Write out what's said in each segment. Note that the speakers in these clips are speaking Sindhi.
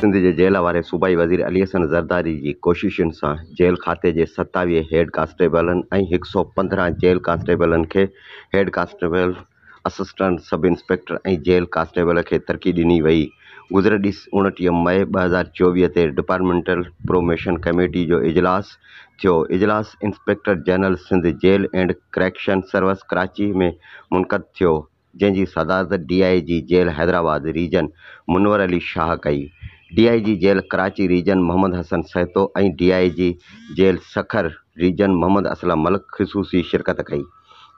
سنڌ جي جيل واري صوبائي وزير علي حسن زرداري جي ڪوششن سان جيل کاتي جي ستاويهه هيڊ ڪانسٽيبلن ۽ هڪ سؤ پندرهن جيل ڪانسٽيبلن کي head constable assistant sub inspector ۽ jail constable کي ترقي ڏني وئي. گذريل ڏس اوڻٽيهه مئي ٻه هزار چوويهه تي ڊپارٽمينٽل پروموشن ڪميٽي جو اجلاس ٿيو. اجلاس inspector general Sindh jail and correction service Karachi ۾ منعقد ٿيو، جنهن جي صدارت D I G jail Hyderabad region Munawar Ali Shah ڪئي. D I G jail Karachi region Muhammad Hassan Sahto ۽ D I G jail Sukkur region Muhammad Aslam Malik خصوصي شرڪت ڪئي.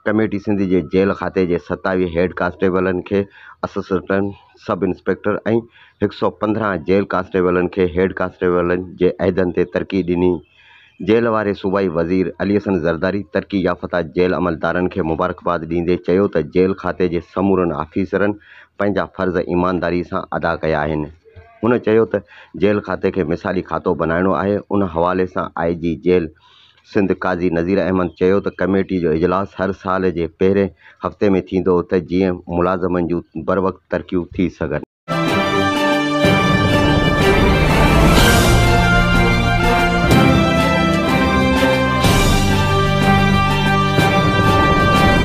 ڪميٽي سنڌ جي جيل کاتي جي ستاويهه هيڊ ڪانسٽيبلن کي اسسٽنٽ سب انسپيڪٽر ۽ هڪ سؤ پندرهن جيل ڪانسٽيبلن کي هيڊ ڪانسٽيبلن جي عهدن تي ترقي ڏني. جيل واري صوبائي وزير علي حسن زرداري ترقي يافته جيل عملدارن کي مبارڪباد ڏيندي چيو ته جيل کاتي جي سمورن آفيسرن پنهنجا فرض ايمانداري سان ادا ڪيا آهن. هن چيو ته جيل کاتي کي مثالي کاتو بنائڻو آهي، ان حوالي سان I G jail Sindh Qazi Nazir Ahmed چيو ته ڪميٽي جو اجلاس هر سال جي پهرين هفتي ۾ ٿيندو ته جيئن ملازمن جون بروقت ترقيون ٿي سگهن.